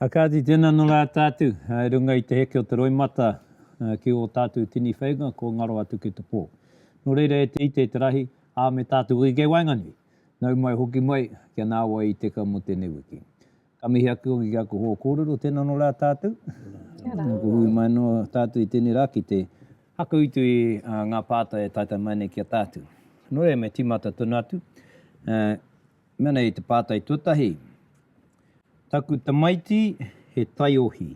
A kāti tēnā nō rā tātu i runga i te heke o te roimata ki ō tātu tini whainga kua ngaro atu ki te pō. Nō reira e te ite, e te rahi, ā, me tātu hoki kei waenganui, nau mai hoki mai kia nāwai i teka mō tēnei wiki. Ka mihi ake hoki ki aku hoa kōrero, tēnā nō rā tātu. Kia rā. Kua hui mai nō tātu i tēnei rā ki te. Hakuitu i ngā pātai e taitai mai nei ki a tātu. Nō reira me tīmata tonu atu. Mea nei te pātai tuatahi, Taku tamaiti he taiohi.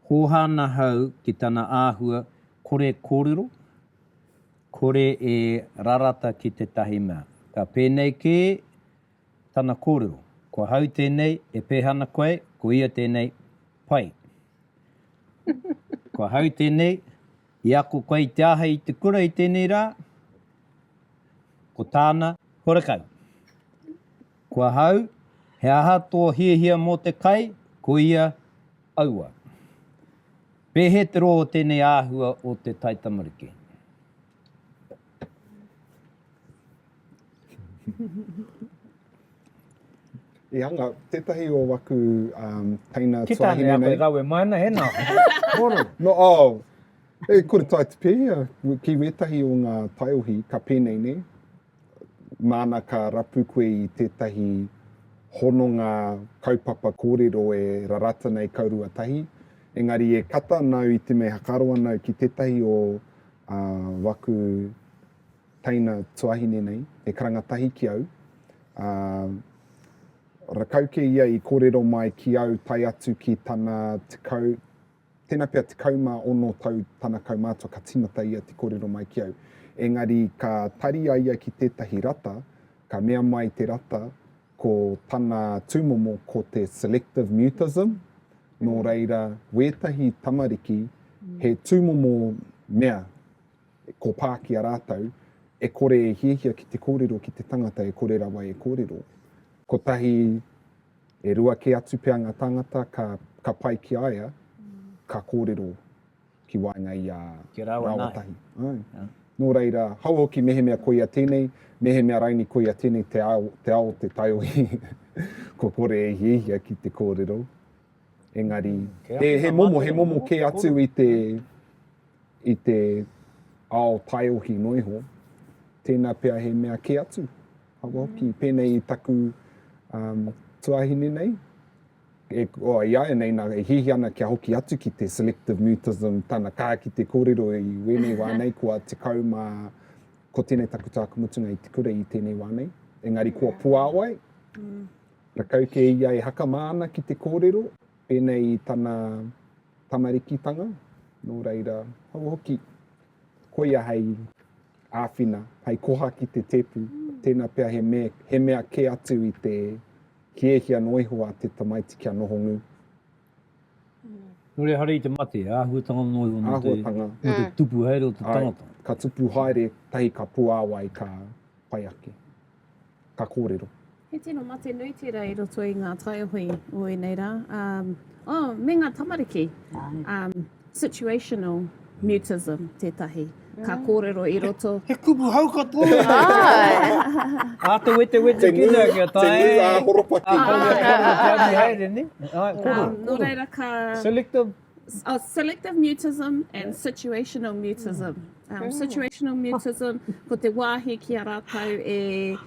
Hōhā nahau ki tana āhua kore kōrero, kore e rarata ki tētahi mea. Ka pēnei kē tana kōrero, Ko ahau tēnei, e pēhā ana koe, ko ia tēnei, pai. Ko ahau tēnei. I ako koe i te āhei i te kura i tēnei rā? Ko tāna, Horekau. Ko ahau, He aha tō hiahia mō te kai? Ko ia, Aua. Pēhē te rō o tēnei āhua o te taitamariki? I hanga, tētahi o waku um, teina Ki tā nei a koe rawe mai ana, he nā. Moro. No, oh, e kore tai te pēhea, ki wētahi o ngā taiohi, ka pēnei nei, māna ka rapu koe i tētahi hononga kaupapa kōrero e rarata nei kaurua tahi, engari e kata nāu i te mea hakaroa nāu ki tētahi o uh, waku Teina tuahine nei, he karanga tahi ki au, ā, rakau kē ia i kōrero mai ki au tae atu ki tana tekau, tēnā pea tekau mā ono tau tana kaumātua ka tīmata ia te kōrero mai ki au. Engari ka tari a ia ki tētahi rata, ka mea mai te rata ko tana tūmomo ko te selective mutism, nō reira wētahi tamariki he tūmomo mea e kopā ki a rātou, e kore e hiahia ki te kōrero ki te tangata e kore rawa e kōrero. Kotahi, e rua kē atu pea ngā tāngata ka, ka pai ki a ia, ka kōrero ki waenga i a Kia rāua nāi. Rāuatahi. Āe. Yeah. Nō reira, hau hoki mehemea koia tēnei, mehemea raini koia tēnei te ao, te ao te taiohi, kua kore e hiahia ki te kōrero. Engari, Kei he, he momo, he momo kē atu i te, i te ao taiohi noa iho, tēnā pea he mea kē atu, hapa hoki, mm. pēnei i taku um, tuahine nei, e, o, i aia nei nā, e hihi ana kia hoki atu ki te selective mutism, tana kā ki te kōrero i wēnei wā nei, kua te kau mā, ko tēnei taku tāku mutunga i te kura i tēnei wā nei, engari kua puāwai, mm. rakau kē ia e haka māna ki te kōrero, Pēnei i tana tamarikitanga, nō reira, hou hoki, koia hei āwhina, hei koha ki te tēpu, tēnā pea he me, he mea kē atu i te hiahia noa iho a te tamaiti kia noho ngū. Nō reira, haere i te mate, he āhuatanga noa iho mō te, mō te tupu haere o te tangata. Ai, ka tupu haere, tahi ka puāwai, ka pai ake. ka kōrero. He tino mate nui tērā i roto i ngā taiohi o ēnei rā. Um, oh, me ngā tamariki. Um, situational mutism tētahi. Ka mm. kōrero i roto. He, he kupu hau katoa. Ā te wete wete ki nā kia tae. Te nui ā horopaki. Ā horopaki haere ni. Ā, koro. Nō reira ka... Selective. Uh, selective mutism and yeah. situational mutism. Mm. Um, oh. situational mutism, ko te wāhi ki a rātou e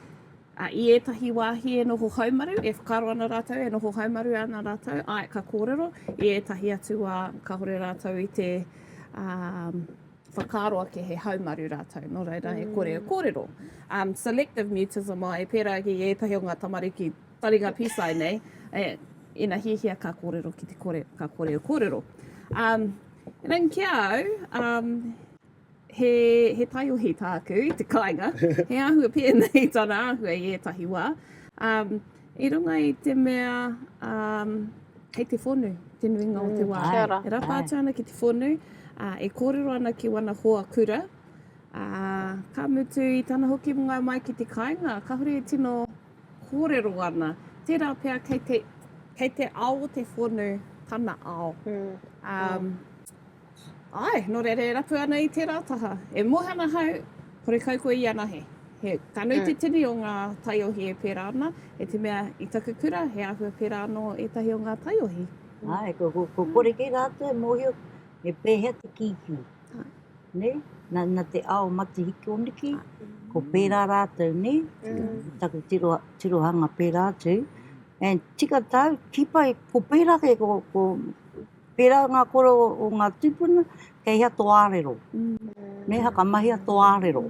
a i ētahi wāhi e noho haumaru, e whakaro ana rātou, e noho haumaru ana rātou, ai ka kōrero, i ētahi atu wā ka hore rātou i te um, whakaro ake he haumaru rātou, no reira mm. he kore e kōrero. Um, selective mutism, ai, pērā ki ētahi o ngā tamariki Taringa pīsai nei, ina hiahia ka kōrero ki te kore, ka kore e kōrero. Um, Nen ki au, um, he, he taiohi tāku i te kāinga, he āhua pēnei tana āhua i ētahi wā. Um, i runga i te mea, um, hei te whonu, te nuinga mm, o te mm, wā. E rapa atu ana ki te whonu, uh, e kōrero ana ki wana hoa kura. Uh, ka mutu i tana hoki mga mai ki te kāinga, ka hore e tino Kōrero ana, tērā pea kei te, kei te ao o te whonu tana ao. Um, ai, nō reira e rapu ana i tērā taha. E mōhana hau, kore kau koe i anahe. He, ka nui te tini o ngā taiohi e pērā ana, e te mea i taku kura he āhua pērā anō ētahi o ngā taiohi. Ai, ko, ko, ko kore kē rātou e mōhio me pēhea te kīkī. Nei, na te ao matihikioniki, ko pērā rātou nei, taku tiro, tirohanga pērā atu, and tika tau, kipa, ko pērā kē, ko, ko, pērā ngā kore o, o ngā tūpuna, kei hea tō ārero, nei, hakamahia tō ārero.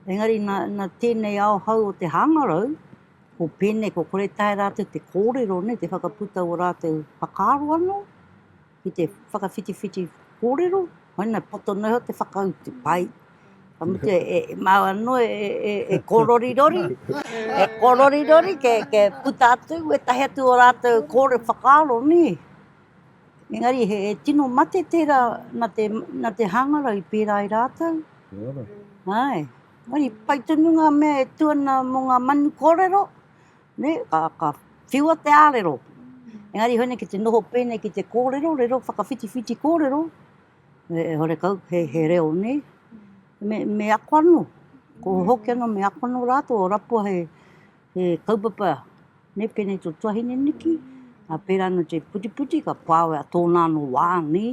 Engari, na, na tēnei ao hau o te hāngarau, ko pēnei, ko kore tae rātou te kōrero, nei, te whakaputa o rātou whakaaro anō, ki te whakawhitiwhiti kōrero, koina poto noa te whakautu, pai. Ka mutu e, e, e māua no e, e, e, e kōrorirori, e kōrorirori, ke, ke puta atu, e tahi atu o rātou kōre whakaaro, nē. Engari, he, he tino mate tērā na te, na te hāngarau i pērā i rātou. Ai. Ai, pai tonu ngā mea e tuana mō ngā manu kōrero, Nē, ka, ka whiua te ārero. Engari hoi nei ki te noho pēnei ki te kōrero, rero whakawhitiwhiti kōrero, e, e hore kau, he, he reo nē. Me, me ako anō, ko hoki anō me ako anō rātou, o rapua he, he kaupapa, nē, pēnei tō tuahine niki, a pērā anō te putiputi, ka pāwe a tōna anō wā, nē,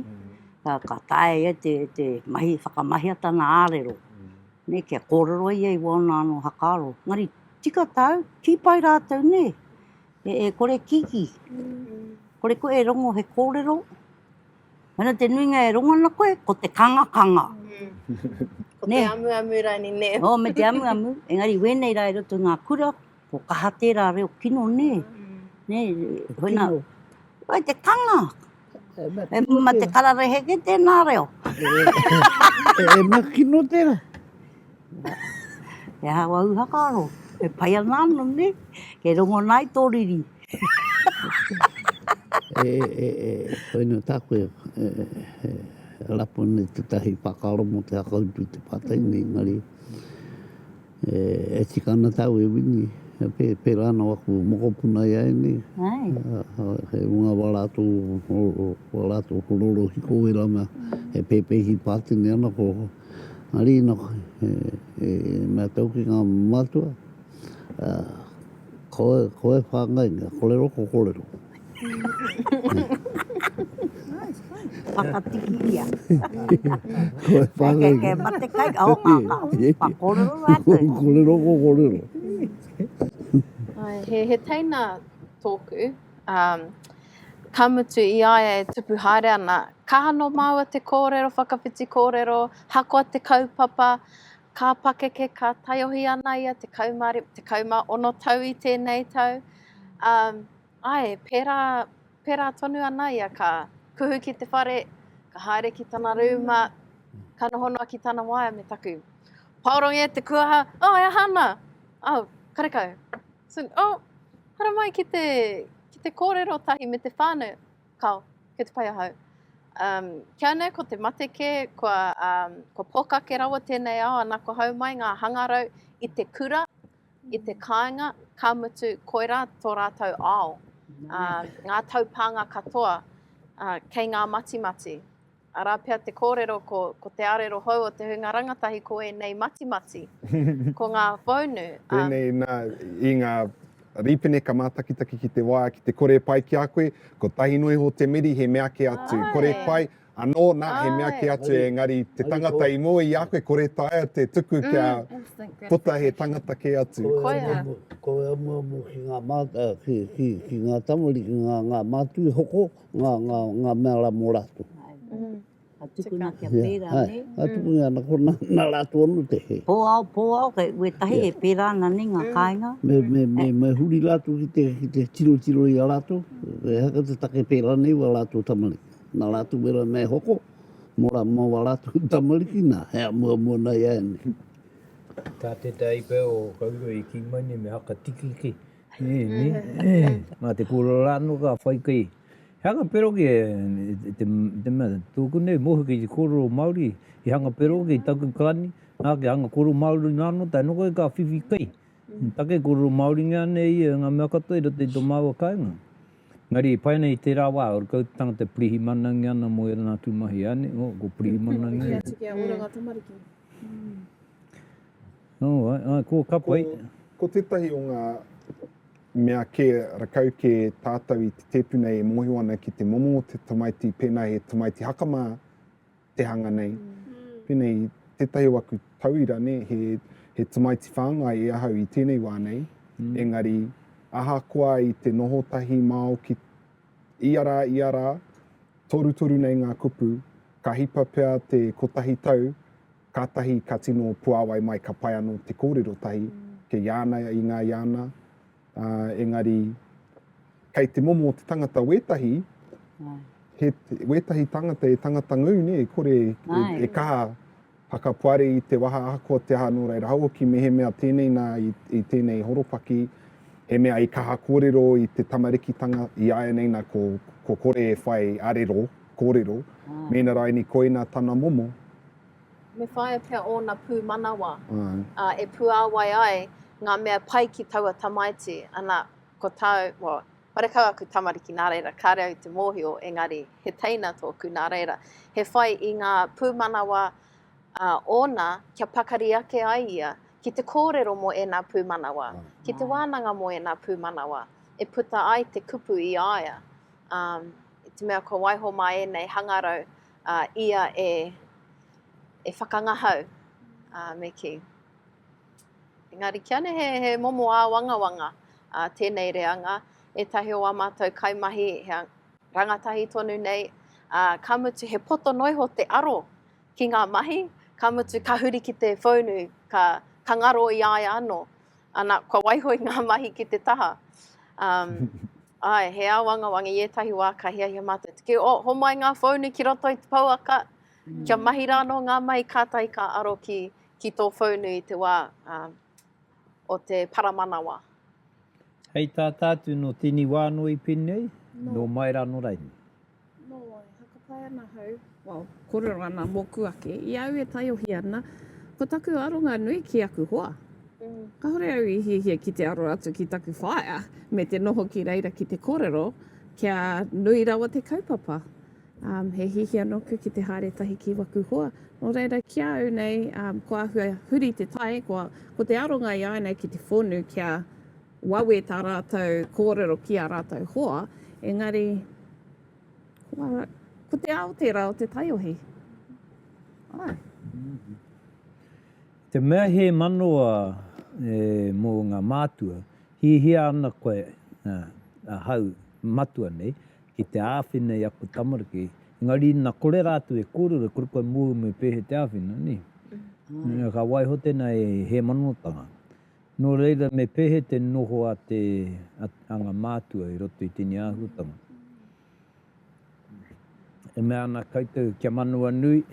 ka, ka taea ia te, te mahi, whakamahiatanga ārero. Nei kia kōrero ia i wāna anō hakaaro, engari tika tāu, kī pai rātou nē, e kore kiki, kore koe e rongo he kōrero, mena te nuinga e rongo ana koe, ko te kangakanga. Ko te amuamu rani nē. Oh, me te amuamu, engari wēnei rā i roto i ngā kura, Ko kaha tērā reo kino nē? Nē, huena, wai te kanga? E mā te kararehe kē tēnā reo? E mā kino tērā? He aha wau whakaaro? E pai ana anō nē? Kei rongo ana ai tō riri. E, e, e, huena tā koe, e, e, rapu nei tētahi whakaaro mō te hakaupu i te pātai nei, engari, E tika ana tāu e Wini, pērā anō aku mokopuna i a ēnei. He hunga wā rātou ko rorohiko wērā mea e pēpēhi pātene ana ko Arina e mea tau ki ngā mātua, koe whāngai, kōrero ko kōrero. Whakatikiria. Koe whangai. Kei mate kai ka hoka ka. Pa korero rātou. Ko korero ko korero. He, he teina tōku. Um, ka mutu i aia e tupu haere ana, ka hano māua te kōrero, whakawhiti kōrero, hakoa te kaupapa, ka pakeke, ka taiohi ana ia te kaumāori, te kaumā ono tau i tēnei tau. Um, Ae, pērā, pērā tonu ana ia ka kuhu ki te whare, ka haere ki tana rūma, ka noho noa ki tana waea me taku. Paorongi e te kuaha, oh, e aha ana? Oh, karekau. Soon, oh, haramai ki te, ki te kōrero tahi me te whānau. Kao, kei te pai ahau. Um, kia nei ko te mate kē, kua, um, kua pōkake rawa tēnei ao ana ko hau mai ngā hangarau i te kura, I te kāinga, ka mutu, koirā tō rātou ao, ā, ngā taupānga katoa, ā, kei ngā matimati. Arā pea te kōrero ko, ko te arero hou o te hunga rangatahi ko ēnei matimati, ko ngā whaunu, ā. Tēnei nā, i ngā rīpene ka mātakitaki ki te wā, ki te kore pai ki a koe, kotahi noa iho te meri he meake atu, kore pai, Anō, nā, he mea kē atu engari te tangata i moe i a koe, kore taea te tuku kia puta he tangata kē atu. Koia. Ko e amuamu ki ngā mātau, ki, ki, ki ngā tamariki, ngā, ngā mātui hoko, ngā, ngā, ngā mea rā mō rātou. Ka tukuna kia pērā, nē? Āe, ka tukuna, nā konā, nā rātou anō te hē. Pōao, pōao, kei wētahi e pērā ana nei ngā kāinga. Me, me, me, me huri rātou ki te, ki te tirotiro i a rātou, he aha te take pērā nei wā rātou tamariki. Nā rātou wera nei hoko, mō rā, mō wā rātou tamariki, nā, he amuamua nā i a ianei. Tā te taipea o Kauroi e kī mai nei me haka tikiki, ē, nē, ē, nā te kōrero rā anō ka whai kai. He hanga pero kē, e te, te mea, tōku nei mohi kei te kōrero Māori, he hanga pero kei taku kāni, nā, kia hanga kōrero Māori noa anō, tae noa koe ka whiwhi kai, take kōrero Māoringia nei ia e ngā mea katoa i roto i tō māua kāinga. Engari, i pai ana i tērā wā, ō rātou tāngata pirihimanaungia ana mō ērā atu mahi, āne? Ō, ko pirihimanaungia. Kia atu, kia ora ngā tamariki. Nō, āe, āe, ko ka pai. Ko tētahi o ngā mea kē, rakau kē tātou i te tēpu nei e mōhio ana ki te momo o te tamaiti, pēnā he tamaiti haka mā, te hanga nei. Pēnei i tētahi o aku tauira, ne, he, he tamaiti whāngai e ahau i tēnei wā nei, mm. engari ahakoa i te noho tahi māo ki ia rā, ia rā, torutoru nei ngā kupu, ka hipa pea te kotahi tau, kātahi ka tino puāwai mai ka pai anō te kōrero tahi, mm. ke Iāna i ngā Iāna, Ā, engari, kei te momo o te tangata wētahi, he, wētahi tangata, e tangata ngū, nē, e kore e, e kaha whakapoari i te waha ahakoa te aha, nō reira, hauoki mehemea tēnei nā i, i tēnei horopaki, he mea i kaha kōrero i te tamarikitanga, i āianei nā ko, ko kore e whai arero, kōrero, mēnā raini koina tana momo. Me whāia pea ōna pūmanawa, ā, e puāwai ai ngā mea pai ki taua tamaiti, ana, ko tāu, wā, karekau aku tamariki, nā reira, kāre au i te mōhio, engari, he teina tōku, nā reira, he whai i ngā pūmanawa, ā, ōna, kia pakari ake ai ia ki te kōrero mō ēnā pūmanawa, ki te wānanga mō ēnā pūmanawa, e puta ai te kupu i a ia, ā, i te mea kua waiho mā ēnei hangarau, a ia e, e whakangahau, a, me kī. Engari kia ne he, he momo āwangawanga a, tēnei reanga, ētahi o ā mātou kaimahi he rangatahi tonu nei, a, ka mutu he poto noa iho te aro ki ngā mahi, ka mutu ka huri ki te whaunu, ka, ka ngaro i a ia anō, ana, kua waiho i ngā mahi ki te taha. Um, Ae, he ao angawanga i etahi wa ka hiahia matou te kī, oh, homai nga whounu ki roto i te pouaka, kia mahi ra no nga mai katahi ka aro ki, ki to whounu i te wa, um, o te paramanawa. Hei tata atu no tini wa no i Penei, no mai ra no Raini. Nō, e hakapai ana hau, well, kōrero ana mōku ake, i a au e taiohi ana, ko taku aronga nui ki aku hoa. Mm. Kahore au i hiahia ki te aro atu ki taku whaea, me te noho ki reira ki te kōrero, kia nui rawa te kaupapa. Um, he hihia nōku ki te haere tahi ki waku hoa. Nō reira, ki a au nei, um, ko ahua huri te tai, ko, ko te aronga i a nei ki te whonu kia Wawe tā rātou kōrero ki ā rātou hoa, engari ko te ao tērā o te taiohi. Āe. Te mea he manawa mō ngā mātua, hiahia ana koe, ahau, matua nei, ki te āwhina i aku tamariki, engari ina kore rātou e kōrero, e kore koe mōu me pēhea te āwhina, nē? Ka waiho tēnā he manotanga. Nō reira, me pēhea te noho a te, a ngā mātua i roto i tēnei āhuatanga? E mea ana koutou, kia Manawanui,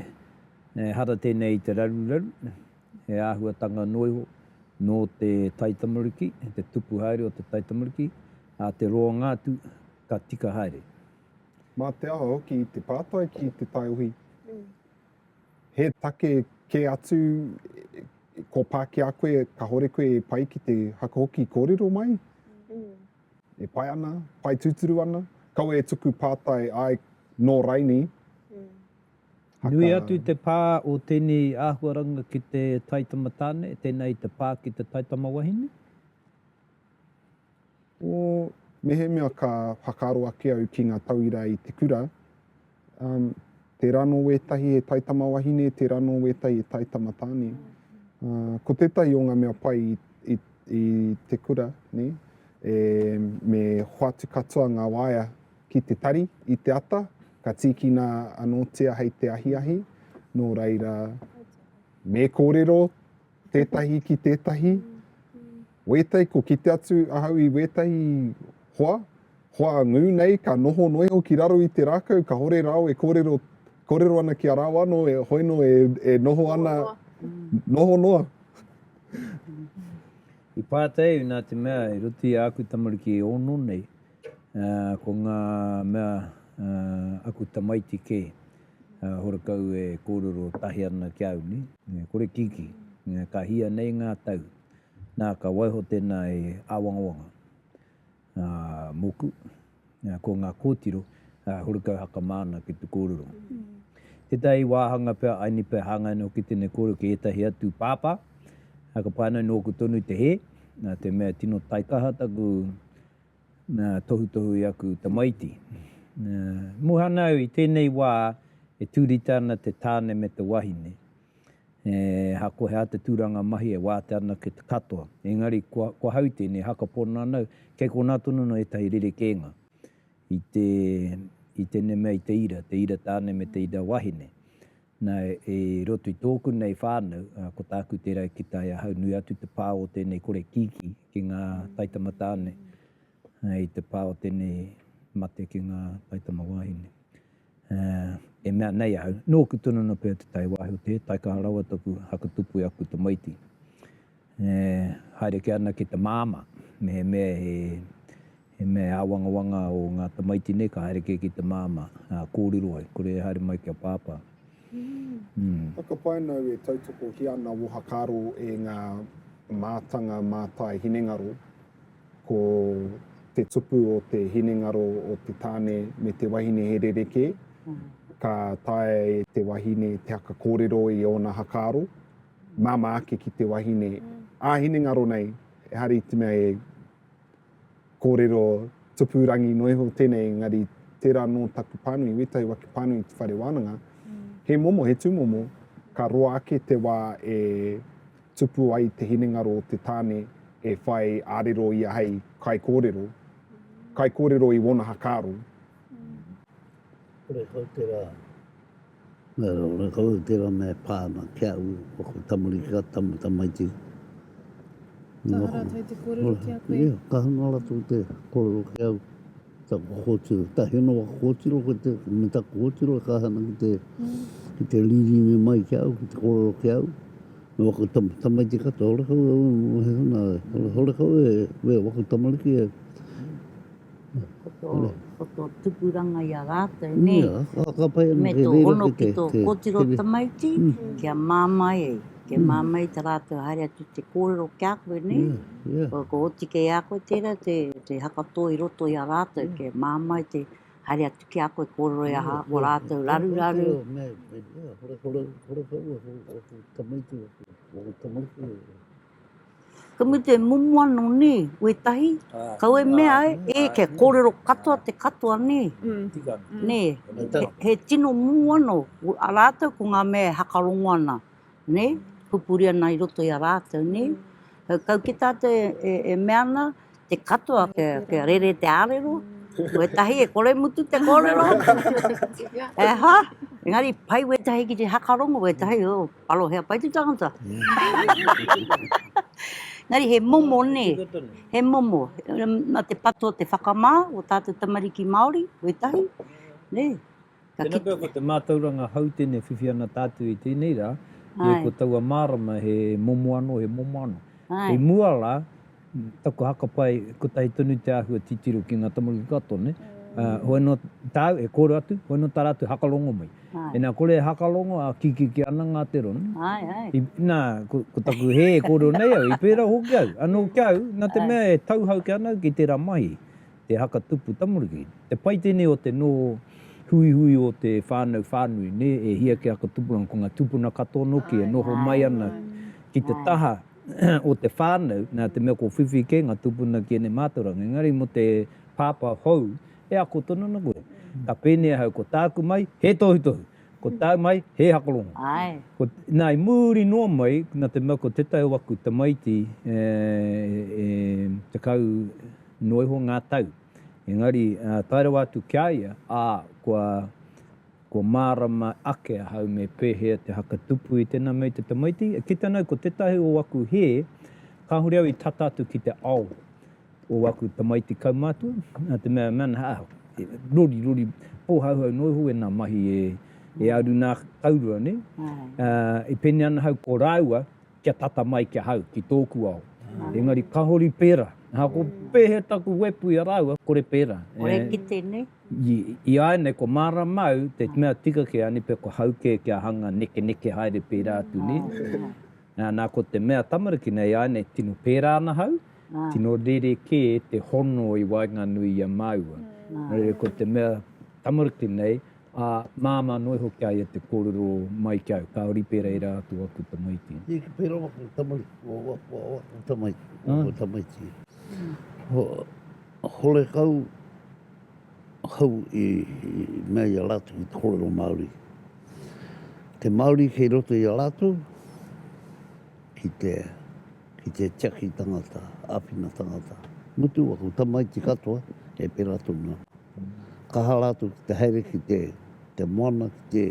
ehara tēnei i te raruraru, he āhuatanga noa iho nō te taitamariki, te tupu haere o te taitamariki, ā, te roanga atu, ka tika haere. Mā te aha hoki i te pātai ki te taiohi? He take kē atu kua pā ki a koe, kahore koe e pai ki te haka hoki kōrero mai. E pai ana, pai tūturu ana. Kaua e tuku pātai ai nō Raini. Nui atu te pā o tēnei āhuaranga ki te taitama tāne, tēnā i te pā ki te taitama wahine? Ko mehemea ka whakaaro ake au ki ngā tauira i te kura, um, tērā nō wētahi he taitama wahine, tērā nō wētahi he taitama tāne. Uh, ko tētahi o ngā mea pai i, i, i te kura, ne, e, me hoatu katoa ngā waea ki te tari, i te ata, ka tīkina anōtia hei te ahiahi, nō reira, me kōrero tētahi ki tētahi, wētahi, ko kite atu ahau i wētahi hoa, hoa ngū nei, ka noho noa iho ki raro i te rākau, ka hore rāo e kōrero, kōrero ana ki a rāo anō, e hoino e, e noho ana, noho noa. I pātai au nā te mea i roto i āku tamariki e ono nei, uh, ko ngā mea uh, aku tamaiti kē. horekau e kōrero tahi ana ki a au nei, me kore kiki, ka hia nei ngā tau, nā ka waiho tēnā e āwangawanga, ā, mōku, ko ngā kōtiro, ā, horekau hakamā ana ki te kōrero. Tētahi wāhanga pea, aini pea hāngai ana hoki tēnei kōrero ki ētahi atu pāpā, ā, ka pai ana nōku tonu te hē, nā te mea tino taikaha taku, Na, tohutohu i aku tamaiti. Na, muhana au i tenei wa e turita ana te tane me te wahine. E, hako he ata turanga mahi e wata ana ki te katoa. Engari, ko, ko hau tenei, haka pono ana au, kei kona tonu no etahi rerekenga i te, i tenei mea i te ira, te ira tane me te ira wahine. Na, i roto i tōku nei whānau, ko tāku te rau ki tae ahau, nui atu te pā o tēnei kore kīkī ki ngā taitama tāne, i te pā o tēnei mate ki ngā taitama wāhine. E mea nei ahau, nōku tonu anō pea te tae wāhi o te taikaha rawa taku haka tupu e aku tamaiti. E haere ke ana ki te māmā. Mehemea he mea he āwangawanga o ngā tamaiti nei, ka haere kē ki te māmā. Ā, kōrero ai, kore e haere mai ki a Pāpā. Ū. Whakapāinau e tautokohia ana ohakaro e ngā mātanga mātai hinengaro, ko te tupu o te hinengaro o te tāne me te wahine he rerekē, ka taea e te wahine te haka kōrero i ōna hakaaro. māmā ake ki te wahine ā hinengaro nei, ehara i te mea e kōrero tupu rangi noa iho tēnei, engari tērā nō taku pānui, wētahi wā ki pānui i te whare wānanga, he momo, he tūmomo, ka roa ake te wā e tupu ai te hinengaro o te tāne e whai ārero ia hei kaikōrero, kaikōrero i wōna hakaaro. Kore kau tērā. Nō kau i tērā mea e pā ana ki a au, ko aku tamariki ka tamu tamaiti. Kaha rātou i te kōrero ki a koe? Ia, kaha noa rātou i te kōrero ki au. Taku kōtiro, tahi anō aku kōtiro ko te, me taku kōtiro e kaha ana ki te, ki te rīrine mai ki a au, ki te kōrero ki a au. Nō aku tamu tamaiti katoa, horekau e, horekau e, waku tamariki e, Ko tō, Nē. ko tō tupuranga i a rātou, nē. Ia, ka, ka pai ana Me kei tō reira hono ki ki te, tō te, kōtiro te, tamaiti, Mm. kia māmai e, kia Mm. māmai tā rātou haere atu i te kōrero ki a koe, nē. ia, ia, Ko, ko oti kei a koe tērā te, te hakatō i roto i a rātou, Mm. kia māmai te haere atu ki a koe kōrero i a ha, ko rātou raruraru. Nē, nē, ia, hore, hore, hore whau, aku, aku tamaiti, aku, aku tamaiti, Ka mutu e momo ana nē, wētahi, kau e mea ai, e, kia kōrero katoa te katoa nē. Tika ana. Nē, he tino momo ana rātou ko ngā mea e hakarongo ana, nē, pupuri ana i roto i a rātou, nē. Kau ki tātou e mea ana, te katoa kia rere te arero, wetahi e kore mutu te korero, e ha, engari pai wetahi ki te hakarongo, wetahi, oh, alo hea pai te tangata. Engari he momo ne, he momo, na te pato te whakama o tatou tamariki Maori, wetahi, ne, ka Tēnā pea, ko te mātauranga hautene e whiwhi ana tātou i tēnei rā, ē, ko taua mārama he momo anō, he momo anō. Hei mua la, taku hakapae, kotahi tonu te āhua titiro ki ngā tamariki katoa, nē? Hoi nō tāu e kōrero atu, hoi nō tā rātou e hakarongo mai. Ina kore e hakarongo, ā, kikiki ana ngā te ron. I, nā, ko, ko taku hē e kōrero nei au, i pērā hoki au. Anō kia au, nā te mea e tauhau ki ana au ki tērā mahi. te haka tupu tamariki. Te pai tēnei o te noho huihui o te whānau whānui, nē, e hia ki haka tupuranga, ko ngā tūpuna katoa noki e noho mai ana ki te taha o te whānau, nā te mea ko whiwhi kē ngā tūpuna ki ēnei mātauranga. Engari mō te pāpā hou, e ako tonu ana koe. Ka pēnei ahau, ko tāku mai, he tohutohu. Ko tāu mai, he hakorongo. Āe. Ko, nā, i muri noa mai, nā te mea ko tētahi o aku tamaiti e, e tekau noa iho ngā tau. Engari, ā, tae rawa atu ki a ia, ā, kua, kua mārama ake ahau me pēhea te hakatupu i tēnā mea i te tamaiti. E kite ana au ko tētahi o aku hē, kāore au i tata atu ki te ao. o aku tamaiti kaumātua, nā te mea, mea nā, ah, e, rori, rori, pōhauhau noa iho ēnā mahi e, e aru nā Taurua, nē? Uh, e pēnei ana hau ko rāua kia tata mai ki ahau, ki tōku ao. Engari ka hori pērā, aha, ko pēhea taku wepu i a rāua, kore pērā. Kore e, ki tēnei? I, i a nei, ko māramau, te mea tika ki a Nipe, ko hau kē kia hanga nekeneke haere pērā atu, nē? Nā, ko te mea tamariki nei, āinei tino pērā ana hau, tino rerekē te hono i waenganui i a māua. Nō reira, ko te mea tamariki nei, ā, māmā noa iho ki a ia te kōrero mai ki au, kāore i pērā e rā atu aku tamaiti. Nē, ka pērā aku tamaiti, ko aku tamaiti, ko aku tamaiti. Hore kau. Hou i mea i a rātou ki te kōrero Māori. Te Māori kei roto i a rātou ki te, ki te tiaki tangata, āwhina tangata. Mutu aku tamaiti katoa e pērā tonu ana. Kaha rātou ki te haere ki te, te moana, ki te,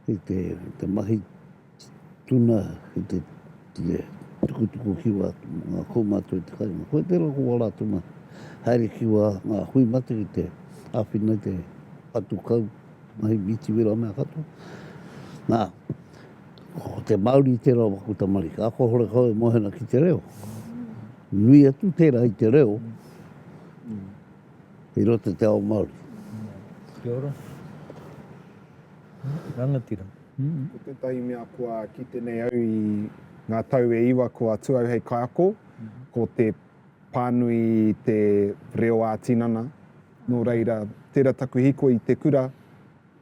ki te, te mahi. Tuna ki te ture tukutuku kiwa atu mō ngā kaumātua i te kāinga. Koe tērā ko wā rātou mā. Haere ki wā ngā hui mate ki te āwhina i te patu kau, mahi mitiwera mea katoa. Nā, ko te Māori tērā o aku tamariki. Ako hore kau e mohena ki te reo. Nui atu tērā i te reo i roto te ao Māori. Kia ora. Rangatira. Ko tētahi mea kua kite nei au i ngā tau e iwa kua atu au hei kaiako, ko te pānui i te reo ā-tinana. Nō reira, tērā taku hīkoi i te kura,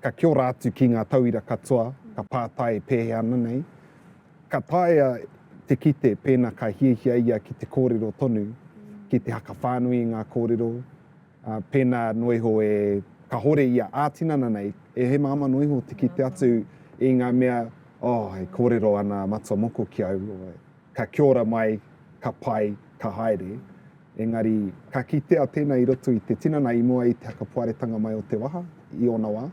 ka kia ora atu ki ngā tauira katoa, ka pātai e pēhea ana nei. Ka taea te kite pēnā ka hiahia ia ki te kōrero tonu, ki te hakawhānui i ngā kōrero, Ā, pēnā noa iho e kahore ia ā-tinana nei, e hemahama noa iho te kite atu i ngā mea, oh, e kōrero ana a Matua Moko ki au, ka kia ora mai, ka pai, ka haere. Engari, ka kitea tēnā i roto i te tinana i mua i te hakapoaretanga mai o te waha, i ōna wā.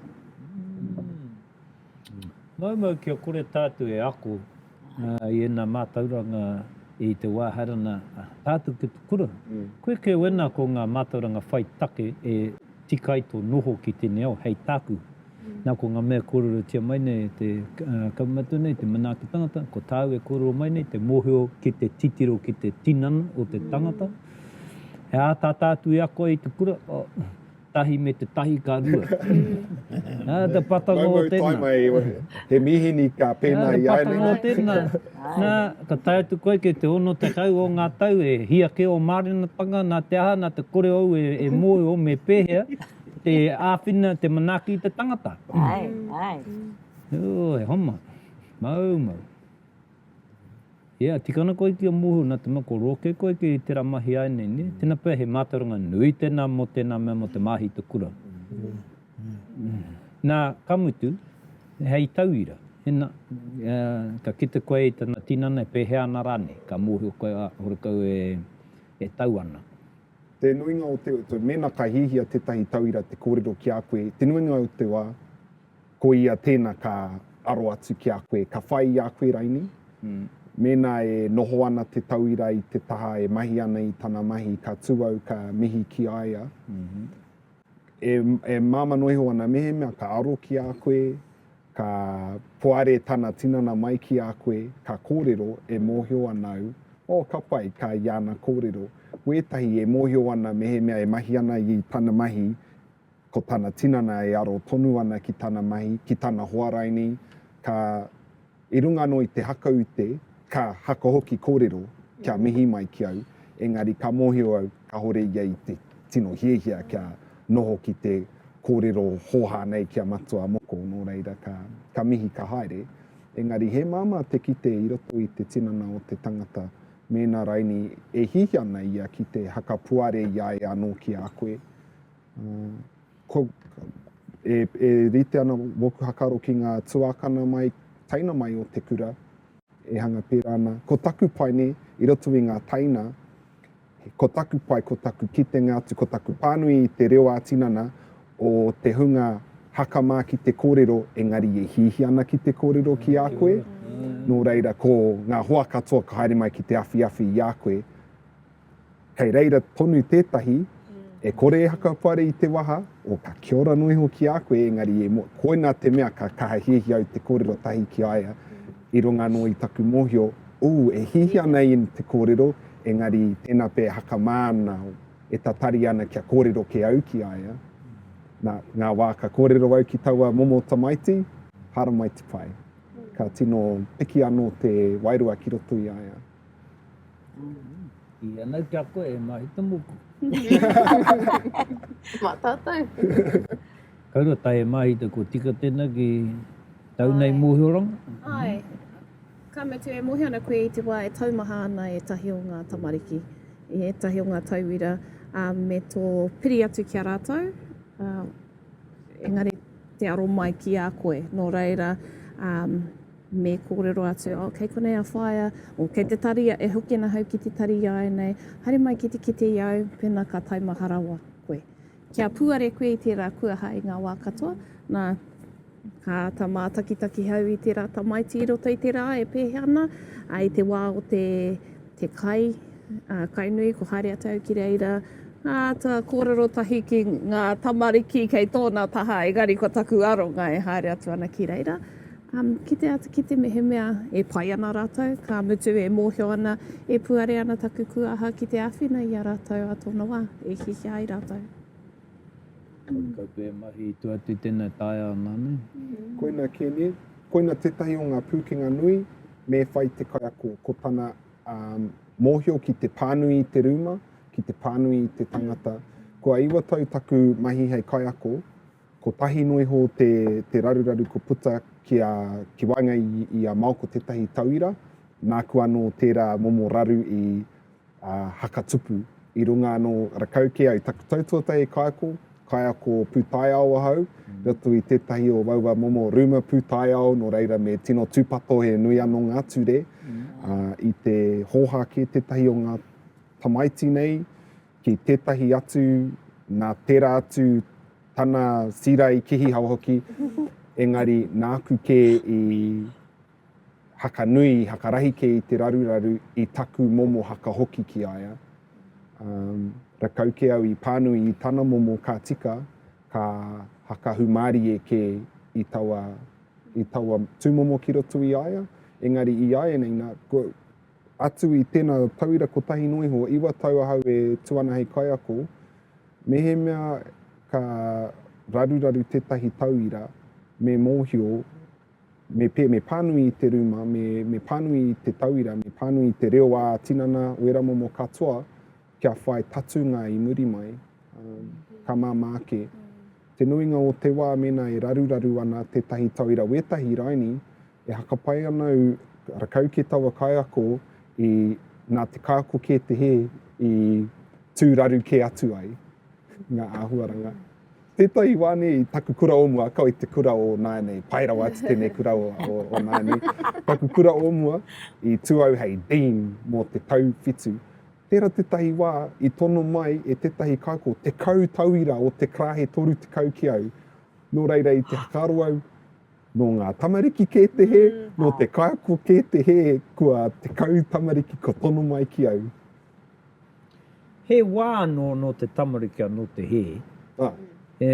Maumau kia kore tātou e ako i ēnā mātauranga i te wā haere ana tātou ki te kura. Koe kē wena ko ngā mātauranga whai take e tika ai tō noho ki tēnei ao hei tāku. Nā ko ngā mea kōrerotia mai nei e te kaumatua nei, te manaaki tangata, ko tāu e kōrero mai nei, te mōhio ki te titiro ki te tinana o te tangata. He ātaata atu e ako ai i te kura. tahi me te tahi ka rua. Nā te patanga o tēnā. Maumau tae mai, he mīhini ka pēnā i a ēnei. Nā te patanga o tēnā. Nā, ka tae atu koe kei te ono tekau o ngā tau e hia kē o mārenatanga, nā te aha, nā te kore ou e mōhio me pēhea te āwhina, te manaaki i te tangata. Āe, āe. Oi, homa. Maumau. Yeah, tikana koe ki a Moho na te mako roke koe ki tera mahi ae nei ne? Tena pea he matauranga nui tena mo tena mea mo te mahi te kura. Na, ka mutu, hei tauira, ina, ka kite koe i tana tinana e pehea ana ranei, ka mohio koe a, horekau e tau ana. Te nuinga o te, mena ka hihia tetahi tauira te korero ki a koe, te nuinga o te wa, Ko ia tēna ka aro atu ki a koe, ka whai i a koe raini, mēnā e noho ana te tauira i te taha e mahi ana i tana mahi, ka tū au ka mihi ki a ia. E, e māmā noa iho ana mehemea ka aro ki a koe, ka poare tana tinana mai ki a koe, ka kōrero, e mōhio ana au, oh, ka pai, ka i ana kōrero. Wētahi e mōhio ana mehemea e mahi ana i tana mahi, Ko tana tinana e aro tonu ana ki tana mahi, ki tana hoa rainī, ka, i runga anō i te haka ute, ka haka hoki kōrero, kia mihi mai ki au, engari ka mōhio au kāore ia i te tino hiahia kia noho ki te kōrero hōhā nei ki a Matua Moko, nō reira ka, ka mihi ka haere. Engari he māmā te kite i roto i te tinana o te tangata mēnā rainī e hiahia ana ia ki te haka puare i a ia anō ki a koe, E rite ana wōku hakaro ki ngā tuākana mai, teina mai o te kura, e hanga pērā ana. Ko taku pai nei, i roto i ngā teina, ko taku pai, ko taku kitenga atu, ko taku pānui i te reo ā-tinana o te hunga haka mā ki te kōrero, engari e hiahia ana ki te kōrero ki a koe. Nō reira, ko ngā hoa katoa ka haere mai ki te awhiawhi i a koe, Kei reira tonu tētahi e kore e hakapare i te waha, o ka kia ora noa iho ki a koe, engari e mo, koina te mea ka kaha hiahia au te kōrero tahi ki a ia, i runga noa i taku mōhio, ooh, e hihi ana in te kōrero, engari tēnā pea e hakamā ana, e tatari ana kia kōrero kē au ki a ia. Nā, ngā wā ka kōrero au ki taua momo tamaiti, haramai te pae. Ka tino piki anō te wairua ki roto i a ia. I anau ki a koe e mahi te moku. Ma tātou. Kau rua tae e mahi te ko tika tēnā ki tau nei mōhioranga. Ai. Ka mutu e mōhio ana koe i te wā e taumaha ana ētahi o ngā tamariki, i ētahi o ngā tauira me tō piri atu ki a rātou. Engari te aro mai ki a koe. Nō reira, me kōrero atu, oh, kei konei a whaea, oh, kei te tari, e hoki ana hau ki te tari iae nei, haere mai ki te kite i a au, pēnā ka taimaha rawa koe. Kia puare koe i tērā kuaha i ngā wā katoa, nā, ka āta mātakitaki hau i tērā tamaiti i roto i te rā e pēhea ana, ā, i te wā o te, te kai, ā, kai nui, ko haere atu au ki reira, ka āta kōrero tahi ki ngā tamariki kei tōna taha, engari ko taku aronga e haere atu ana ki reira. Kite atu ki te mehemea e pai ana rātou, ka mutu e mōhio ana, e puare ana taku kuaha ki te āwhina i a rātou a tōna wā, e hiahia ai rātou. Kore koutou e mahi i tua atu i tēnei taea ana nei. Koina kēnei, koina tētahi o ngā pūkenga nui me whai te kaiako, ko tana mōhio ki te pānui i te rūma, ki te pānui i te tangata. Kua iwa tau taku mahi hei kaiako, Kotahi noa iho te raruraru kua puta ki waenga i a Maoko tētahi tauira, nāku anō tērā momo raru i haka tupu. I runga anō rakau kē ai taku tau tuatahi kaiako, kaiako pūtaiao ahau i roto i tētahi o aua momo rūma pūtaiao nō reira me tino tūpato he nui anō ngā ture. I te hōhā kē tētahi o ngā tamaiti nei, ki tētahi atu, nā tērā atu tana sira i kihihawa hoki, engari nāku kē i hakanui, i hakarahi kē i te raruraru i taku momo haka hoki ki a ia. Um, rakau kē au i pānui i tana momo ka tika, ka haka humārie kē i taua, i taua tūmomo ki roto i a ia, engari i āianei nā, atu i tēnā tauira kotahi noa iho, iwa tau ahau e tū ana hei kaiako, mehemea ka raruraru tētahi tauira, me mōhio, me, pē, me pānui i te rūma, me, me pānui i te tauira, me pānui i te reo ā-tinana, wēra momo katoa, kia whai patunga i muri mai, ka māmā ake. Te nuinga o te wā mēnā e raruraru ana tētahi tauira wētahi raini, e hakapai ana au rakau kē taua kaiako i nā te kaiako kē te hē i tū raru kē atu ai ngā āhuaranga. Tētahi wā nei i taku kura o mua, kau i te kura o nāianei, pai rawa atu tēnei kura o, o, o nāianei, taku kura o mua, i tū au hei Dean mō te tau whitu, Tērā tētahi wā i tono mai e tētahi kāko tekau tauira o te karāhe 30 ki au, nō reira i te whakaaro au, nō ngā tamariki kē te hē, nō te kaiako kē te hē kua tekau tamariki kua tono mai ki au. He wā anō nō te tamariki anō te hē. E,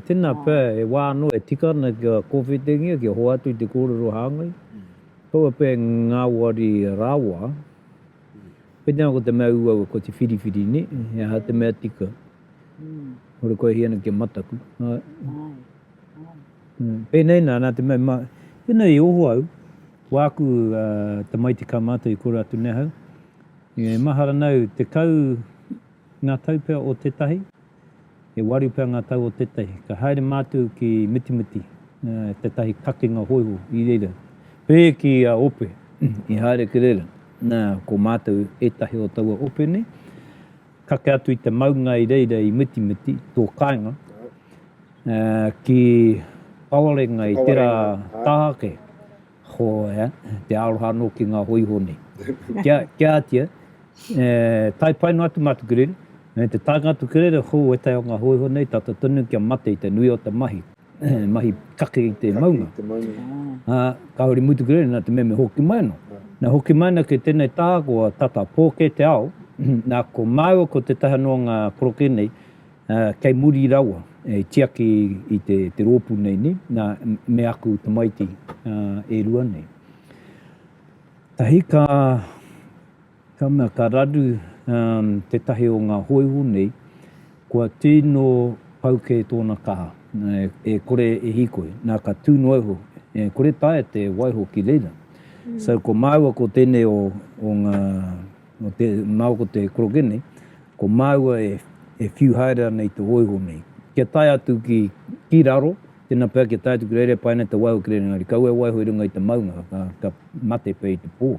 tēnā pea, he wā anō e tika ana kia kōwhitingia, kia hoatu i te kōrero hāngai. Kaua pea e ngāwari rawa. Koinei ko te mea uaua, ko te whiriwhiri, nē? He aha te mea tika? Hore kua hia ana ki a Mataku. Pēnei nā, nā te mea, ma, pēnei i oho au, ko āku tamaiti ka mātau i koro atu nei ahau, e mahara nau tekau ngā tau pea o tētahi, E waru pea ngā tau o tētahi, ka haere mātou ki Mitimiti, tētahi kakenga hōiho i reira. Pē ki a Ope i haere ki reira, nā, ko mātou ētahi o taua ope nei, kake atu i te maunga i reira i Mitimiti, tō kāinga, ki Paorenga i tērā taha ake. Hōea, te aroha anō ki ngā hōiho nei. Kia, kia ātia, e, tae pai noa atu mā te kerere, me te taenga atu kerere, hō, ētahi o ngā hōiho nei, tata tonu kia mate i te nui o te mahi, mahi kake i te maunga. Kake i te maunga. Ā, kāore i muri te kerere, nā te mea me hoki mai anō. Na hoki mai ana ki tenei tahakoa tata pō kē te ao, na ko māua ko tetahi anō o ngā koroke nei, Kei muri rawa, i tiaki i te rōpū nei, nē, nā, me aku tamaiti e rua nei. Tahi ka, ka mea, ka raru tētahi o ngā hōiho nei, kua tino pau kē tōna kaha, e kore e hīkoi, nā, ka tū noa iho, e kore taea te waiho ki reira. So, ko māua ko tēnei o ngā. Nō te nao ko te korokene, ko māua e, e whiu haere ana i te hōiho nei. Kia tae atu ki, ki raro, tēnā pea kia tae atu ki reira e pai ana te waiho ki reira engari kaua e waiho i runga i te maunga ka, ka mate pea i te pō.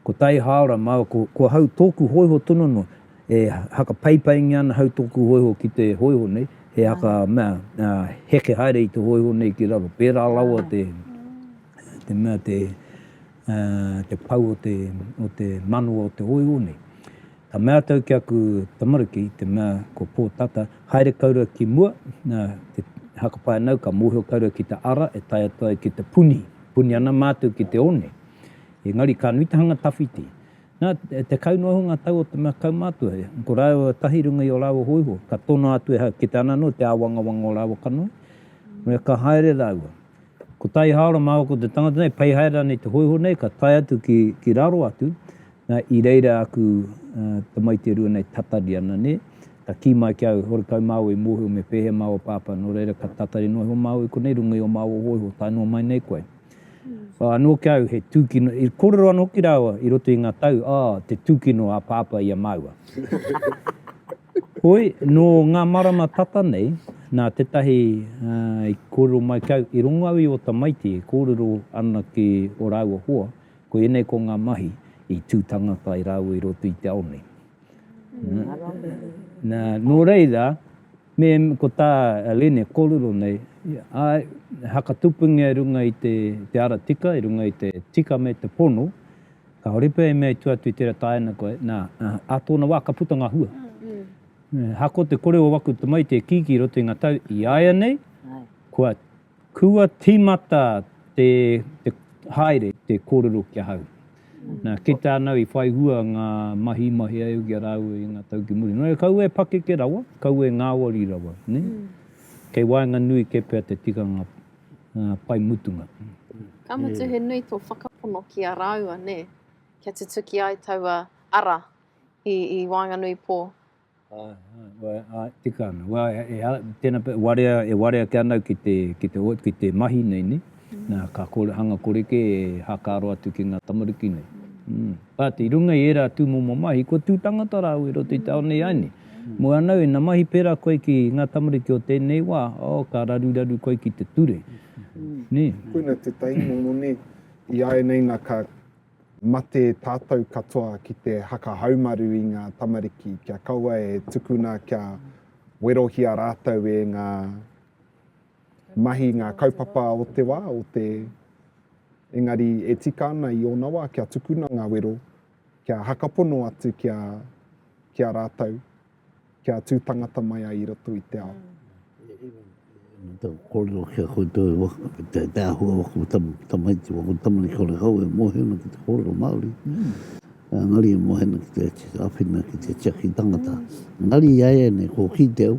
Ko tai hāora māua ko, ko hau tōku hōiho tonu noa, e hakapaipaingia ana hau tōku hōiho ki te hōiho nei, he haka mea, a, heke haere i te hōiho nei ki raro. Pērā rawa te, te mea te. te pau o te, o te manawa o te oiwo nei. Ka mea tau ki aku tamaruki, te mea ko Pō Tata, haere kau ra ki mua, na, te hakapae nau, ka mōhio kau ra ki te ara e tae atu ai ki te puni, puni ana mātou ki te one. Engari ka nui te hanga tawhiti. Na, e tekau noa iho nga tau o te mea kaumātua, ko rāua tahi i runga i o rāua hōiho, ka tonoa atu e hau, kite ana anō te āwangawanga o rāua kanohi, me ka haere rāua. Ko Taihaora mā, ko te tangata nei, pei haere ana i te hōiho nei, ka tae atu ki, ki raro atu, nā, i reira aku tamaiti e rua nei tatari ana, nē. Ka kī mai ki au, horekau māua i mōhio me pēhea māua pāpā, nō reira ka tatari noa iho māua i konei runga i ō māua hōiho, tae noa mai nei koe. Whā anō ki au, he tūkino, i kōrero ana hoki rāua i roto i ngā tau, oh, te tūkino a pāpā i a māua. Hoi, nō ngā marama tata nei, nā tētahi i kōrero mai ki au, i rongo au i ō tamaiti e kōrero ana ki ō rāua hoa, ko ēnei ko ngā mahi i tū tangata ai rāua i roto i te ao nei. Nā, nō reira, me, ko tā Lene e kōrero nei, āe, he hakatupungia i runga i te ara tika, i runga i te tika me te pono, Kāore pea e mea i tua atu i tērā tāina koe, nā, ā tōna wā ka puta ngā hua. Ahakoa te kore o aku tamaiti e kīkī i roto i ngā tau, i a ia nei, kua, kua tīmata te, te haere, te kōrero ki ahau. Nā, kei te anau i whai hua ngā mahi i mahea au ki a rāua i ngā tau ki muri. Nō reira, kaua e pakeke rawa, kaua e ngāwari rawa, nē? Kei waenganui kē pea te tikanga. pai mutunga. Ka mutu he nui tō whakapono ki a rāua, nē, kia tutuki ai taua ara i, i waenganui pō. Āe, āe, tika ana. Wā, e, tēnā pea, warea, e warea ake ana au ki te, ki te, ki te mahi nei, nē. Nā, ka kore, hanga kore kē e hākaro atu ki ngā tamariki nei. Āte, i runga i ērā tūmomo mahi, kua tū tangata rāua i roto i te ao nei āe nē. Mua nau, ina mahi pērā koe ki ngā tamariki o tēnei wā, oh, ka raruraru koe ki te ture. Nē? Koina tētahi momo nē. I āianei nā ka mate tātou katoa ki te haka haumaru i ngā tamariki, kia kaua e tukuna kia werohia rātou e ngā mahi, ngā kaupapa o te wā, o te, engari e tika ana i ōna wā kia tukuna ngā wero, kia hakapono atu ki a, ki a rātou, kia tū tangata mai ai i roto i te ao. Tau kōrero ki a koutou e waka, te, te ahua waka o tamu, tamaiti waka o tamu ni kore kau e mōhena ki te kōrero Māori. Mm. Uh, ngari e mōhena ki te, te awhina, ki te tiaki tangata. Ngari i aia nei, kō ki te au,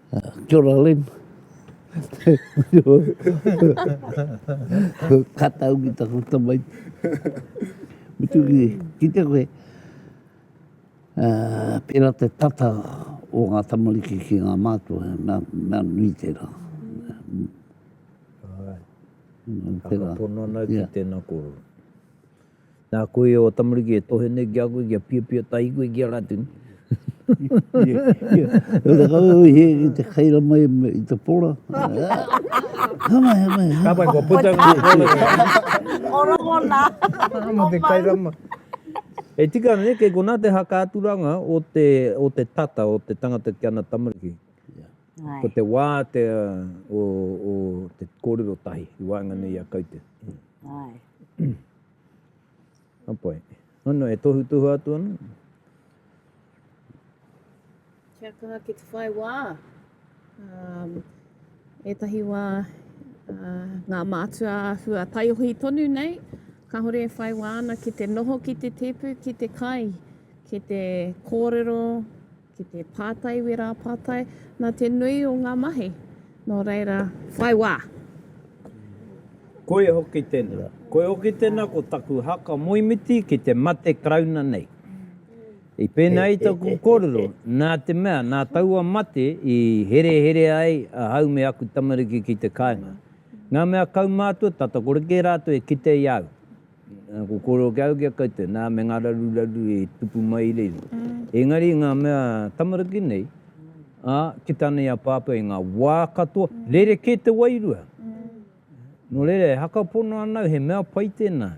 Kia ora Lynn. Ka tau ki taku tamaiti. Mutu ki, ki te koe. Uh, pera te tata o ngā tamariki ki ngā mātua, mea, mea nui tērā. Alright. Ka pono ana ki tēnā kōrero. Na koe o tamariki e tohe nei ki a koe kia pia pia tahi koe ki a ratini. He rakau au he ki te kaira mai i te pora. He mai, he mai. Ka pai kua puta nga korero. O rongona. Mo te kaira mai. E tika ana nei kei kona te haka aturanga o te o te tata o te tangata ki ana tamariki. Ko te wa te o o te korero tahi i waenganui a kaute. Apai. Ano e tohu tohu atu ana. Kia kaha ki te whai wā. Um, etahi wā uh, ngā mātua hua taiohi tonu nei, ka hore e whai wā ana ki te noho ki te tepu, ki te kai, ki te kōrero, ki te pātai wērā pātai nā te nui o ngā mahi, nō reira, whai wā! Koia hoki tēnā. Koia hoki tēnā ko taku haka moemiti ki te mate Karauna nei. I pēnei ai taku kōrero, nā te mea, nā taua mate i hereherea ai ahau me aku tamariki ki te kāinga. Ngā mea kaumātua, tata kore kē rātou e kite i a au. Ko kōrero kia au ki a koutou, nā, me ngā raruraru i tupu mai i reira. Engari i ngā mea tamariki nei, ā, ki tāna i a Pāpā i ngā wā katoa, rerekē te wairua. Nō reira, e haka pono ana au, he mea pai tēnā.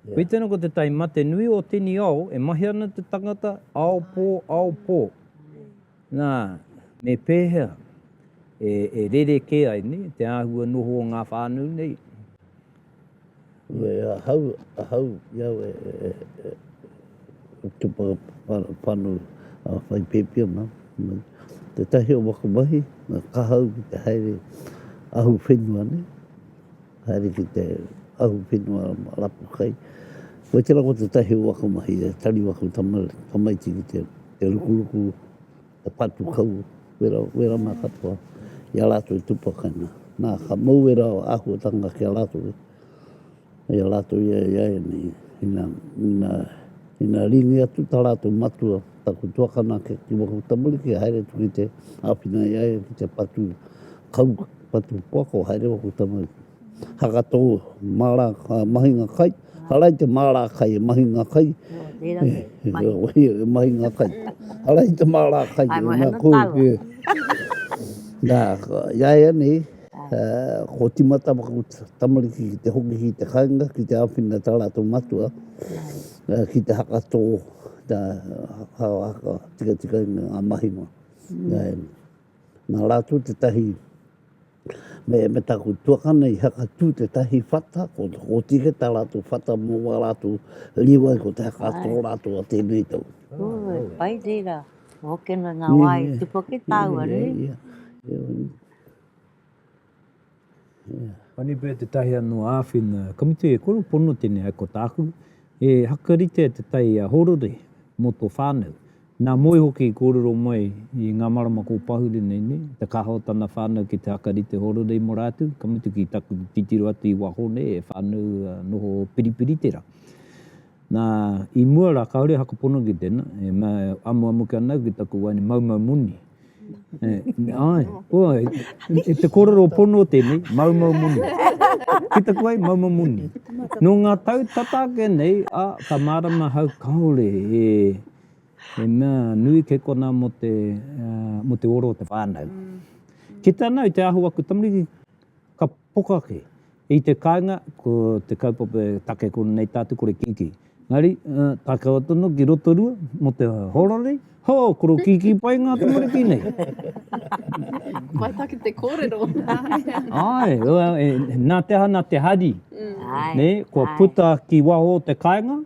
Koe tēnā ko te tahi mate nui o tēnei ao, e mahi ana te tangata, ao pō, ao pō. Nā, me pēhea e rerekē ai te āhua noho o ngā whānau nei? Me ahau, ahau ki au e, e, e, e, e te whakapanu a whai pēpi ana. Te tahi o wakamahi, ngā kahau ki te haere ahu whenua ne, haere ki te ahu whenua rapu kai. Koe tera ko te tahi o wakamahi e tari waku tamaiti ki te, te rukuruku, He patu kau wera, wera mā katoa i a rātou i tupakainga. Nā, ka mau wera o āhuatanga ki a rātou e. Hei a rātou ia i a e nei, ina, ina, ina ringi atu tā rātou matua, taku tuakana ake ki waho tamuri ki haere atu ki te āwhina i a ia ki te patu kau, patu poako haere waho tamuri. Haka tō māra mahinga kai. Hara i te māra kai e mahinga kai. E mahinga kai. Hara i te māra kai. Ai mo hana taua. Nā, ia ia nei, ko timata maku tamariki ki te hoki ki te kainga, ki te awhina tā rātou matua, ki te haka tō, nā, haka tika tika i ngā mahinga. Nā rātou te tahi. Me, me taku tuakana i hakatū te tahi whata, ko, ko tike tā rātou whata mō wā rātou rīwai, ko te hakatō Ai. rātou a tēnei tau. Ū, e pai reira. Ko hoki ana ngā wā e tupu ki tāua, Ia, nui. ia, ia. Honeybird tētahi anō āwhina ka mutu e koro pono tēnei hai ko tāku, e hakaritea te tai a Hōrore mō tō whānau. Nā Moe hoki i kōrero mai i ngā marama kō pahure nei nei, te kaha o tana whānau ki te hakarite horere i Moraatu, ka mutu ki taku titiro atu i waho nei e whānau noho Piripiriterā. Nā, i mua rā kāore haka pono ki tēnā, e amuamu kē ana au ki taku waeine maumau moni. Ae, koa, e te korero pono tenei, maumau moni. Ki taku ai, maumau moni. No nga tau tata ake nei, a, ka marama ahau, kaore e, he mea nui kei kona mo te, mo te oro o te whanau. Ki te ana i te aho aku tamariki, ka poka ake, I te kāinga, ko te kaupapa e take kona nei tātou kore kīkī. Engari, tākawa tonu ki Rotorua, mō te horori, ho! koro kīkī pai ngā tamariki nei. Mai take te kōrero. Āe, nā te aha, nā te hari, nē, kua puta ki waho o te kāinga,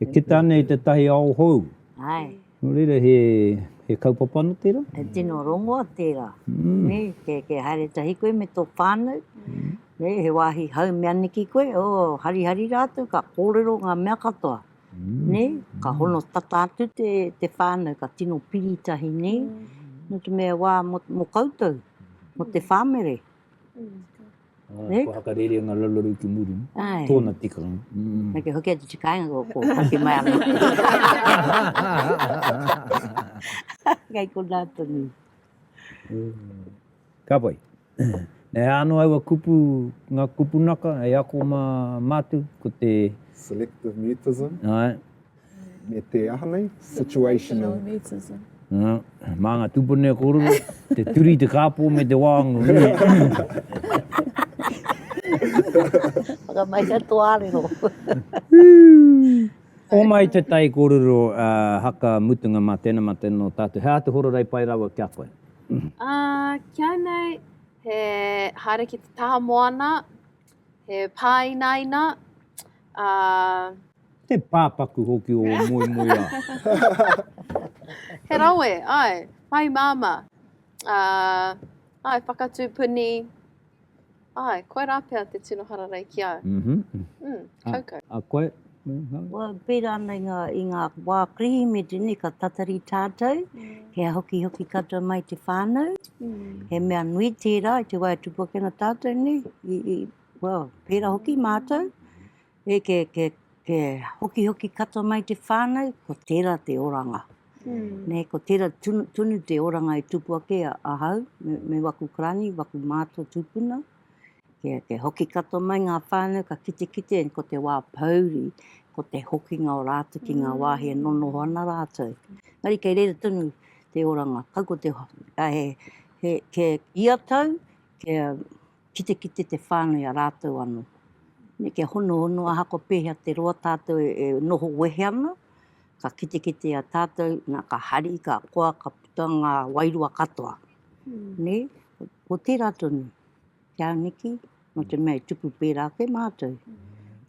e kita ana i tētahi ao hou. Nō reira he kaupapa anō tērā? He tino rongoa tērā, kei haere tahi koe me tō whānau, he wāhi home aneke koe, harihari rātou ka kōrero ngā mea katoa, ka hono tata atu te whānau, ka tino piri tahi nei, nō te mea wā mō koutou, mō te whāmere. Ko hakarere nga lalaro ki muri. Tona tika. Me ke hoki atu tika inga ko pati mai ame. Kei ko nata ni. Ka pai. E ano aua kupu, nga kupu naka, e ako ma matu, ko te... Selective mutism. Ai. me te aha nei? Situational. Nā, mā ngā tūpune a kōrero, te turi, te kāpō me te wāngu. Whakamai ka tō ārero. o mai te tai kōrero a haka mutunga mā tēnā mā tēnā o tātou. He āta hora rei pai rawa kia koe. Uh, kia nei, he haere ki te taha moana, He pāinaina, ā. He pāpaku hoki ō moemoeā. He rawe, āe, pai māmā, ā, āe, whakatū puni, āe, koirā pea te tino hararei ki au. Uhmm. Uhmm, kaukau. Ā, koe? Kua pērā ana i ngā wā Kirihimeti nei ka tatari tātou, kia hokihoki katoa mai te whānau, he mea nui tērā i te wā e tupu ake ana tātou nei, i, well, pērā hoki mātou, e ke, ke, ke hokihoki katoa mai te whānau, ko tērā te oranga. Mm. Nei, ko tērā tunu, tunu te oranga i tupu ake a, a hau, me, me waku karani, waku mātua tūpuna, Kia hoki katoa mai ngā whānau ka kitekite ko te wā pōuri, ko te hokinga o rātou ki ngā wāhi e nonoho ana rātou. Engari kei reira tonu te oranga, kau ko te, kei ia tau, kia kitekite te whānau i a rātou anō. Kia honohono ahako pēhea te roa tātou e noho wehe ana, ka kitekite i a tātou, nā ka hari, ka koa, ka puta ngā wairua katoa. Nei, ko tērā tonu te aniki, nō te mea e tupu pērā ake mātou,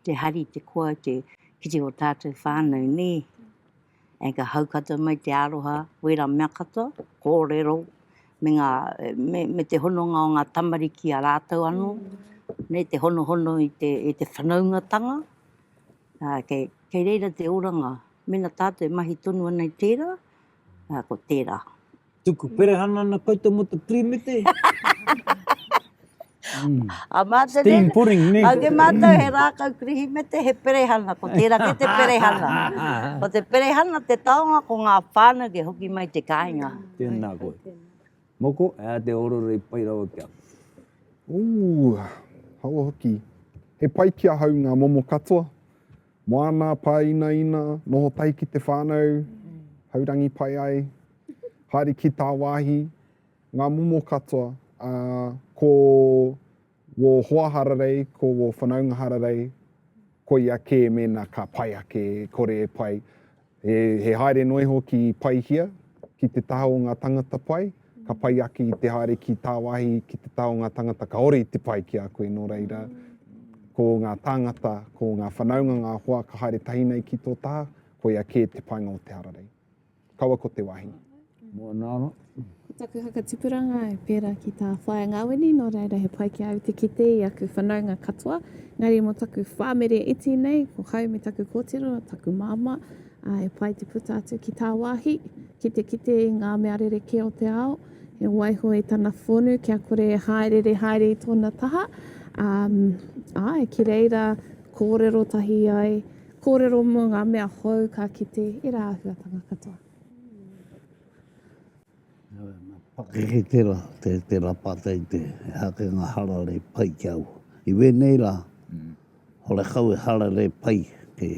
te hari, te koa, te kite o tātou whānau, nē. E ka haukata mai te aroha, wērā mea katoa, kōrero, me, ngā, me, me te hononga o ngā tamariki a rātou anō, nei te honohono i te, i te whanaungatanga. Ā, kei, kei reira te oranga, mēnā tātou e mahi tonu ana i tērā, ā, ko tērā. Tuku perehana ana koutou mo te pirimete. Mm. A mātou Steam pudding, ne? A ke mātou he rākau kirihimete, he perehana, ko tērā ke te perehana. ko te perehana te taonga, ko ngā whānau ke hoki mai te kāinga. Tēnā koe. Moko, e a te ororo i pai rawa kia. Ooh, hawa hoki. He pai ki ahau ngā momo katoa. Moana, pāinaina, noho tahi ki te whānau, haurangi pai ai, haere ki tāwāhi, ngā momo katoa, ā, ko wō hoa hararei, ko wō whanaunga hararei, koia kē mēnā ka pai ake, e kore e pai. He haere noa iho ki Paihia, ki te taha o ngā tangata pai, ka pai ake i te haere ki tāwāhi ki te taha o ngā tangata kaore i te pai ki a koe nō reira, ko ngā tāngata, ko ngā whanaunga ngā hoa ka haere tahi nei ki tō taha, koia kē te painga o te hararei. Kaua ko te wāhi. Mua nāna. Ko taku whakatipuranga e pērā ki tā Whaea Ngawini, nō reira he pai ki a au te kite i aku whanaunga katoa, engari mō taku whāmere iti nei, ko hau me taku kōtiro, taku māmā, ā, e pai te puta atu ki tāwāhi, ki te kite i ngā mea rerekē o te ao, he waiho i tana whonu kia kore e hāereere haere i tōna taha, ā, āe, ki reira kōrero tahi ai, kōrero mō ngā mea hou ka kite e rā āhuatanga katoa. Pakeke tērā, tērā pātai te hakenga hararei pai ki au. I wēnei rā, horekau e hararei pai te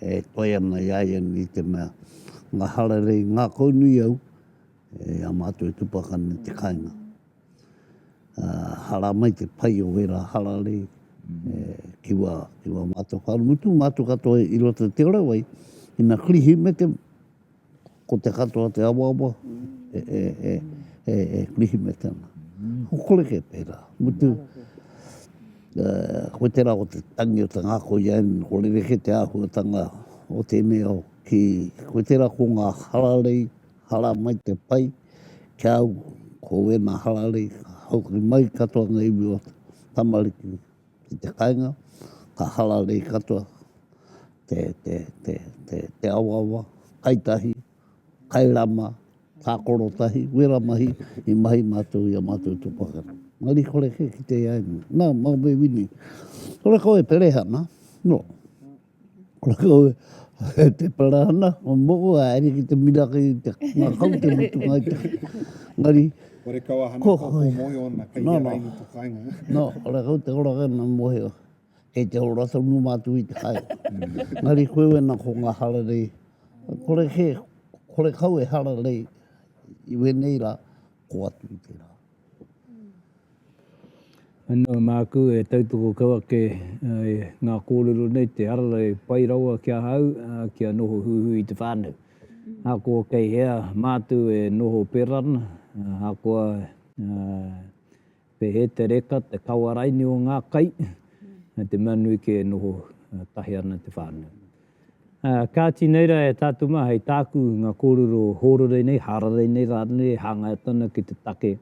e toe ana i a ia nei te mea ngā hararei ngākau nui au e ā mātou e tupakana i te kāinga. hara mai te pai o wera hararei ki wa ki wa mato ka mutu mato ka to i roto te ora wai ina krihi me te ko te katoa te awa awa e e e e e krihi me te ana ko kore ke pera mutu ko te ra o te tangi o te ngako i ain ko le ke te ahuatanga o te mea o ki ko te ra ko nga hararei Hara mai te pai ki a au ko wena hararei ka haukuri mai katoa nga iwi o te tamariki ki te kainga ka hararei katoa te te te te te awaawa kai tahi kai rama takoro tahi wera mahi i mahi matou i a matou to pakana mari kore ke kite ai na mau me wini kore koe pereha na no. Ko te parahana, o moko, a eri ki te miraka i te ngakau, te mutunga i te ngari. Ko re kau ahana kua kua mohi o na kai hea raini to kai nga. No, re kau te ora kai na mohi o. Kei te ora sa nu matu i te kai. Ngari koe we na ko nga hara rei. Ko re ke, ko re kau e hara rei. I we nei ra, ko atu i te ra. Anō māku e tautoko kau ake i ngā kōrero nei, te arara e pai rawa ki ahau kia noho huihui i te whānau. Ahakoa kei hea mātou e noho pērā ana, ahakoa kei hea te reka, te kawa raini o ngā kai, me te mea nui kē e noho tahi ana te whānau. Ā, kāti nei rā e tātou mā hei tāku i ngā kōrero hōrere nei, hararei nei rānei e hangaia atu ana ki te take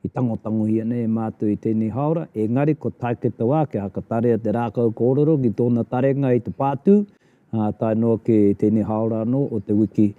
i tangotangohia nei e mātou i tēnei hāora, engari ko Taeketa wā kia hakatarea te rākau kōrero ki tōna tarenga i te pātū, ā, tae noa ki tēnei hāora anō o Te Wiki.